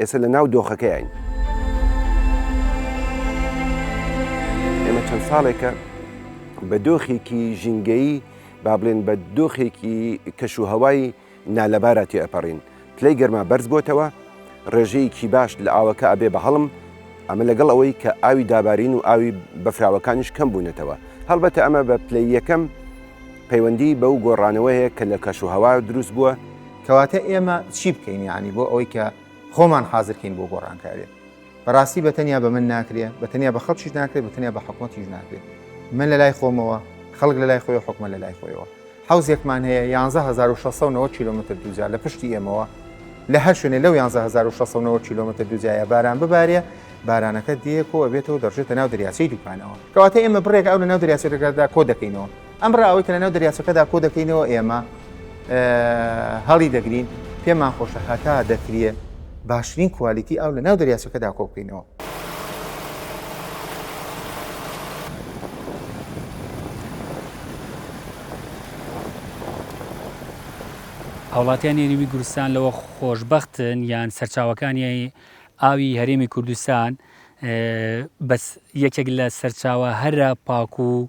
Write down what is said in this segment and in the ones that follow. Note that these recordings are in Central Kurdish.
ئێستا لە ناو دۆخەکەیاین. ئێمە چەند ساڵێکە بە دۆخێکی ژینگەیی با بڵێن بە دۆخێکی کەش و هەوای نالەبارا تێ ئەپەڕین. پلەی گەرما بەرز بۆتەوە، ڕێژەیەکی باش لە ئاوەکە ئەبێ بە هەڵم، ئەمە لەگەڵ ئەوەی کە ئاوی دابارین و ئاوی بەفراوەکانیش کەم بوونەتەوە. هەڵبەتە ئەمە بە پلەی یەکەم پەیوەندیی بەو گۆڕانەوە هەیە کە لە کەش و هەوا دروست بووە. کەواتە ئێمە چی بکەین یانی بۆ ئەوەی کە خۆمان حازرکەین بۆ گۆڕانکارێ بەڕاستی بەتەنیا بە من ناکرێ بەتەنیا بە خەڵکیش ناکرێت بەتەنیا بە حکوومەتیش ناکرێت من لە لای خۆمەوە خەڵک لە لای خۆی حکومە لە لای خۆیەوە حوزێکمان هەیە 1690 کیلومتر دوجار لە پشتی ئێمەوە لە هەر شوێنێ لەو 1690 کیلومتر دوجایە باران ببارێ بارانەکە دێکۆ ئەبێتەوە دەڕژێتە ناو دەریاچەی دوکانەوە کەواتە ئێمە بڕێک ئەو لە ناو دەریاچەکەدا کۆ دەکەینەوە ئەم ڕاوەی کە لەناو دەریاچەکەدا کۆ دەکەینەوە ئێمە هەڵی دەگرین، پێمان خۆشە هەتا دەکرێ باشترین کوالیتی ئاو لەناو دەریاچەکەدا کۆ بکەینەوە. هاوڵاتیانی هەرێمی گورستان لەوە خۆشبەختن یان سەرچاوەکانی ئاوی هەرێمی کوردستان بەس یەکێک لە سەرچاوە هەرە پاک و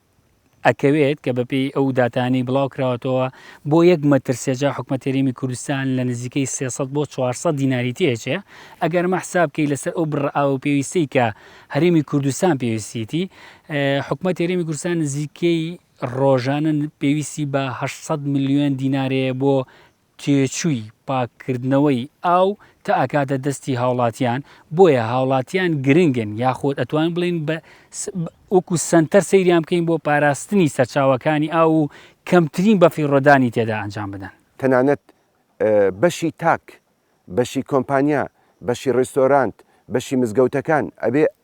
ئەکەوێت کە بەپێی ئەو داتانی بڵاو کراوەتەوە بۆ یەک مەترسێجا حکومەتێریمی کوردستان لە نزیکەی 300 بۆ 400 دیناری تێچێ ئەگەر مە حسابکەی لەسەر ئەو بڕاو پێویستەی کە هەرێمی کوردستان پێویستیتی حکومە تێریمی کوردستان نزیکەی ڕۆژانە پێویستی بە 600 میلیۆن دینارەیە بۆ تێچووی پاککردنەوەی ئاو کە ئەکاتە دەستی هاوڵاتیان، بۆیە هاوڵاتیان گرنگن یاخود ئەتوانین بڵێین بە وەکو سەنتەر سەیریان بکەین بۆ پاراستنی سەرچاوەکانی ئاو و کەمترین بەفیڕۆدانی تێدا ئەنجام بدەن. تەنانەت بەشی تاک، بەشی کۆمپانیا، بەشی ڕێستۆرانت، بەشی مزگەوتەکان ئەبێ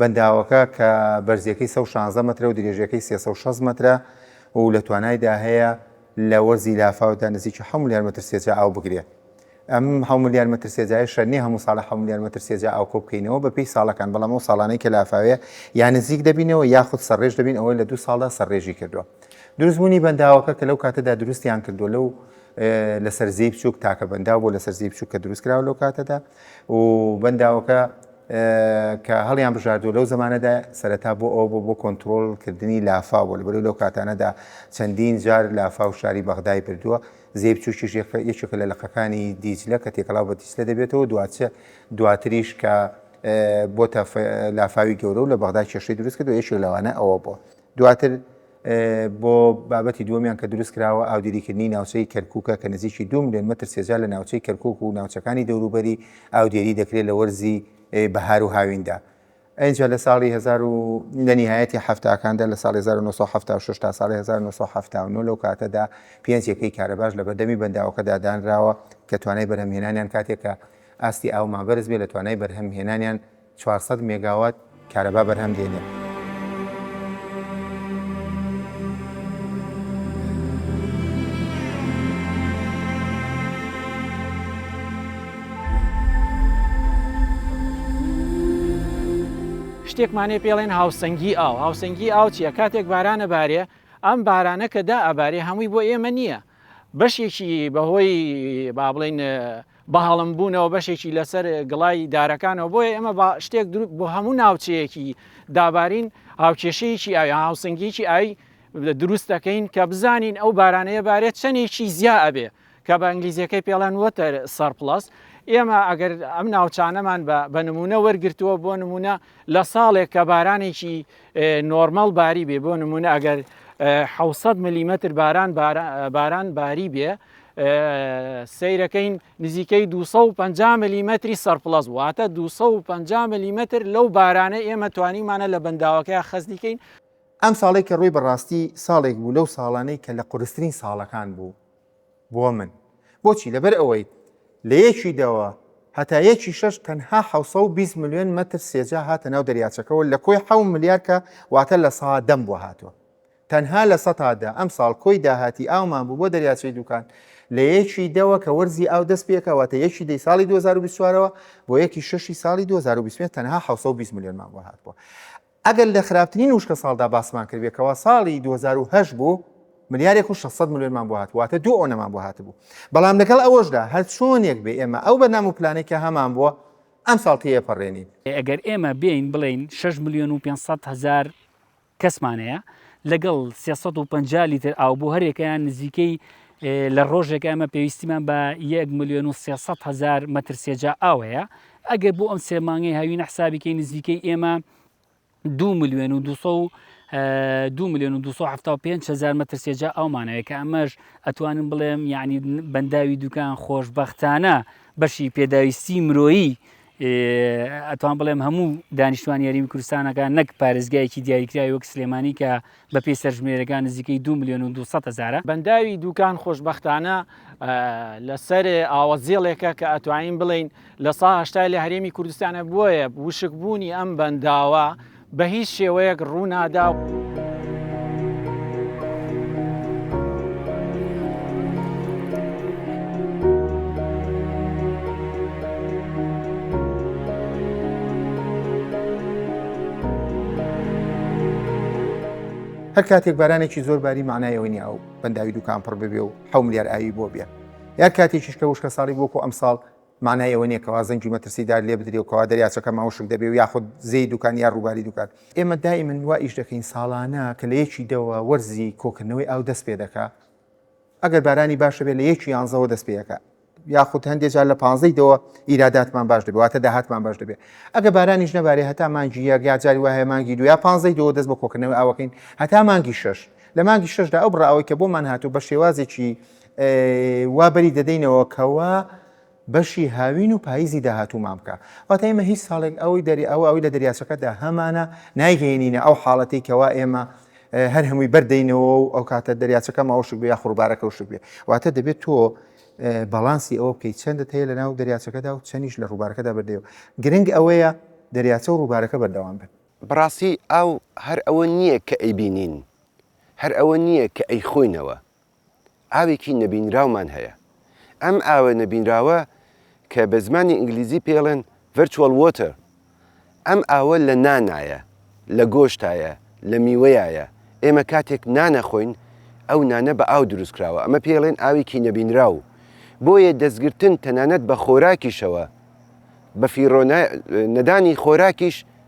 بەنداوەکە کە بەرزییەکەی سەد و شازدە مەترە و درێژییەکەی سێ سەد و شەست مەترە و لە توانایدا هەیە لە وەرزی لافاودا نزیکی حەوت ملیار مەتر سێجا ئاو بگرێ. ئەم حەوت ملیار مەتر سێجایەشە نییە هەموو ساڵێ حەوت ملیار مەتر سێجا ئاو کۆ بکەینەوە بە پێی ساڵەکان، بەڵام ئەو ساڵانەی کە لافاوێ یا نزیک دەبینەوە یاخود سەرڕێژ دەبین ئەوە لە دوو ساڵدا سەرڕێژی کردووە. دروستبوونی بەنداوەکە کە لەو کاتەدا دروستیان کردووە لەو لەسەر زێی بچووک تاکە بەنداو بۆ لەسەر زێی بچووک کە دروست کراوە لەو کاتەدا و بەنداوەکە کە هەڵیان بژاردووە لەو زەمانەدا سەرەتا بۆ ئەوە بۆ بۆ کۆنتترۆل کردنی لافاو بۆ لەبەر لەو کاتانەدا چەندین جار لافاو شاری بەغدای بردووە زێ بچووکیش یەکێکە لە لەقەکانی دیجلە کە تێکەڵاو بە دیجلە دەبێتەوە دواچە دواتریش کە بۆ لافاوی گەورە و لە بەغدا کێشەی دروست کردو یەکێک لەوانە ئەوە بووە دواتر بۆ بابەتی دووەمیان کە دروست کراوە ئاودێریکردنی ناوچەی کەرکووکە کە نزیکی دوو ملیۆن مەتر سێجا لە ناوچەی کەرکووک و ناوچەکانی دەوروبەری ئاودێری دەکرێت لە وەرزی بەهار و هاویندا. ئینجا لە ساڵی هەزار و لە نیهایەتی حەفتاکاندا لە ساڵی هەزار و نۆ سەد و حەفتا و شەش تا ساڵی هەزار و نۆ سەد و حەفتا و نۆ لەو کاتەدا پێنج یەکەی کارەباش لە بەردەمی بەنداوەکەدا دانراوە کە توانای بەرهەمهێنانیان کاتێک کە ئاستی ئاومان بەرز بێت لە توانای بەرهەمهێنانیان چوار سەد مێگاوات کارەبا بەرهەم دێنێت. شتێکمان هەیە پێڵێن هاوسەنگی ئاو هاوسەنگی ئاو چیە کاتێک بارانە بارێ ئەم بارانە کە دا ئەبارێ هەمووی بۆ ئێمە نییە بەشێکی بەهۆی با بڵین بەهەڵم بوونەوە بەشێکی لەسەر گڵای دارەکانەوە بۆیە ئێمە بە شتێک دروست بۆ هەموو ناوچەیەکی دابارین هاوکێشەیەکی ئاوی هاوسنگیکی ئاوی دروست دەکەین کە بزانین ئەو بارانەیە بارێت چەندێکی زیا ئەبێ کە بە ئەنگلیزیەکەی پێڵەن وەتەر سەرپلس ئێمە ئەگەر ئەم ناوچانەمان بە نمونە وەرگتووە بۆ نمونە لە ساڵێک کە بارانێکی نۆرمەڵ باری بێ بۆ نمونە ئەگەر 600 ملیمتر باران باران باری بێ سەیرەکەین نزیکەی 250 ملیمەتری سەرپلەس واتە 250 ملیمەتر لەو بارانە ئێمە توانیمانە لە بەنداوەکەی خەزنیکەین. ئەم ساڵەی کە ڕووی بەڕاستی ساڵێک بوو لەو ساڵانەی کە لە قورسترین ساڵەکان بوو بۆ من بۆچی لەبەر ئەوەی لە یەکی دەوە هەتا یەکی شەش تەنها 720 ملیۆن مەتر سێجا هاتە ناو دەریاچەکەوە لە کۆی حەو ملیار کە واتە لە سا دەم بووە هاتووە تەنها لە سەتا دە ئەمساڵ کۆی داهاتی ئاومان بوو بۆ دەریاچەی دووکان لە یەکی دەوە کە وەرزی ئاو دەست پێکا واتە یەکی دەی ساڵی 2024 ەوە بۆ یەکی شەشی ساڵی 2025 تەنها 720 ملیۆنمان بۆ هاتبووە ئەگەر لە خراپترین وشکە ساڵدا باسمان کردێت کەوا ساڵی 2010 بوو ملیارێک و 600 ملیۆنمان بۆ هات واتە دوو ئەوەمان بۆ هاتبوو بەڵام لەگەڵ ئەوەشدا هەر چۆنێک بێ ئێمە ئەو بەنام و پلانێکە هەمان بووە ئەم ساڵ تێپەڕێنین ئەگەر ئێمە بێین بڵێین 6 ملیۆن و 500 هزار کەسمان هەیە لەگەڵ سێ سەد و پەنجا لیتر ئاو بۆ هەرێکەیان نزیکەی لە ڕۆژێک ئەمە پێویستیمان بە یەک میلیۆن و سێسەد هزار مەتر سێجا ئاو هەیە ئەگەر بۆ ئەم سێ مانگەی هاوینە حسابیکەی نزیکەی ئێمە دو میلیۆن و دو دو میلیۆن و 275 هزار مەتر سێجا ئەومانەوەی کە ئەمەش ئەتوانم بڵێم یعنی بەنداوی دوکان خۆشببختانە بەشی پێداویستی مرۆیی ئەتوان بڵێم هەموو دانیشتوان یاریمی کوردستانەکە نەک پارێزگایەکی دیاریکراوی وەک سلێمانی کە بە پێی سەرژمێرەکان نزیکەی دو میلیۆن و 200 هزارە بەنداوی دوکان خۆشبەختانە لەسەر ئاوە زێڵێکە کە ئەتوانین بڵین لە سا هشتای لە هەرێمی کوردستانە بۆیە وشک بوونی ئەم بەنداوە بە هیچ شێوەیەک ڕوو نادا. هەر کاتێک بارانێکی زۆر باری مانای ئەوە نیە ئەو بەنداوی دوکان پڕ ببێ و حەو ملیار ئاوی بۆ بێ یا کاتێکیش کە وشکە ساڵی وەکو ئەمساڵ مانای ئەوە نییە کەوا زەنگی مەترسیدار لێ بدرێ و کەوا دەریاچەکە ماوشک دەبێ و یاخود زێی دوکان یا ڕووباری دوکان. ئێمە دائیمەن وا ئیش دەکەین ساڵانە کە لە یەکی دەوە وەرزی کۆکردنەوەی ئاو دەست پێ دەکا ئەگەر بارانی باش هەبێ لە یەکی یانزەوە دەست پێ ئەکا یاخود هەندێ جار لە پانزەی دەوە ئیراداتمان باش دەبێ واتە داهاتمان باش دەبێ ئەگە بارانیش نەبارێ هەتا مانگی یەک یا جاری وایە مانگی دو یا پانزەی دەوە دەست بە کۆکردنەوەی ئاوەکەین هەتا مانگی شەش لە مانگی شەشدا ئەو بڕە ئاوەی کە بۆمان هاتوو بە شێوازێکی وا بەری دەدەینەوە کەوا بەشی هاوین و پاییزی داهاتوومان بکە واتە ئێمە هیچ ساڵێک ئەوەی دەری ئەو ئەوی لە دەریاچەکەدا هەمانە نایگەێنینە ئەو حاڵەتی کەوا ئێمە هەر هەمووی بەردەینەوە و ئەو کاتە دەریاچەکە ماوەشک بێ خوربارەکە وشک بێ واتە دەبێت تۆ بەڵانسی ئەوە بکەیت چەندت هەیە لە ناو دەریاچەکەدا و چەنیش لە ڕووبارەکەدا بەردەوە گرنگ ئەوەیە دەریاچە و ڕووبارەکە بەردەوام بن بڕاستی ئاو هەر ئەوە نییە کە ئەیبینین هەر ئەوە نییە کە ئەی خۆینەوە ئاوێکی نەبینراومان هەیە. ئەم ئاوە نەبینراوە کە بە زمانی ئینگلیزی پێڵێن Virtual Water ئەم ئاوە لە نانایە، لە گۆشتایە، لە میوەیایە. ئێمە کاتێک نان ئەخۆین ئەو نانە بە ئاو دروست کراوە. ئەمە پێیڵێن ئاوێکی نەبینراو. بۆیە دەستگرتن تەنانەت بە خۆراکیشەوە، بە فیڕۆ نەدانی خۆراکیش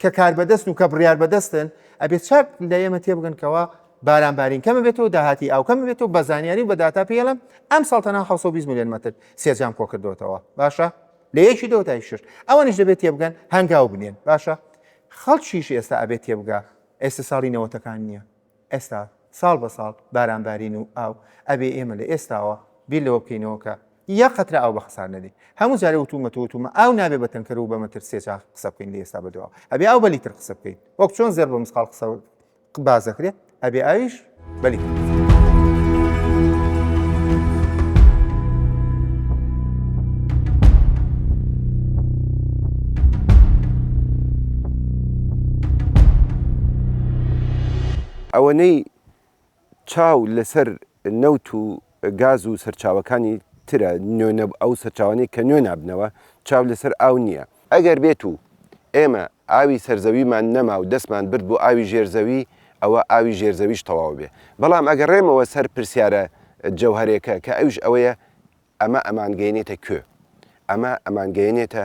کە کاربەدەستن و کە بڕیاربەدەستن ئەبێ چاک لە ئێمە تێبگەن کەەوە بارانبارین کەمە بێتەوە داهاتی ئاوکەم بێتەوە بە زانیاری و بە داتا پێڵم ئەم ساڵتەنا 620 میلیۆن مەتر سێجام کۆکردوێتەوە باشە لە یەکی دەوە تای شش ئەوانش دەبێت تێبگەن هەنگاو بنێن باشە خەڵکیش ئێستا ئەبێت تێبگا ئێستا ساڵی نەوەتەکان نییە ئێستا ساڵ بە ساڵ باران بارین و ئاو ئەبێ ئێمە لە ئێستاوە بیر لەوە بکەینەوە کە یەک قەترە ئاو بە خەسار نەدەین هەموو جارێ وتومەتەوە وتومە ئاو نابێ بە تەنکەر و بە مەتر سێ چاخ قسە بکەین لە ئێستا بەدواوە ئەبێ ئاو بە لیتر قسە بکەین وەک چۆن زێڕ بە مسقاڵ قسە باز دەکرێت ئەبێ ئاویش بە لیتر قسە ئەوەنەی چاو لەسەر نەوت و گاز و سەرچاوەکانی ترە، نوێ نەب، ئەو سەرچاوانەی کە نوێ نابنەوە، چاو لەسەر ئاو نییە. ئەگەر بێت و ئێمە ئاوی سەرزەویمان نەما و دەستمان برد بۆ ئاوی ژێر زەوی، ئەوە ئاوی ژێر زەویش تەواو بێ. بەڵام ئەگەڕێمەوە سەر پرسیارە جەوهەرێکە کە ئەویش ئەوەیە، ئەمە ئەمانگەیەنێتە کوێ؟ ئەمە ئەمانگەیەنێتە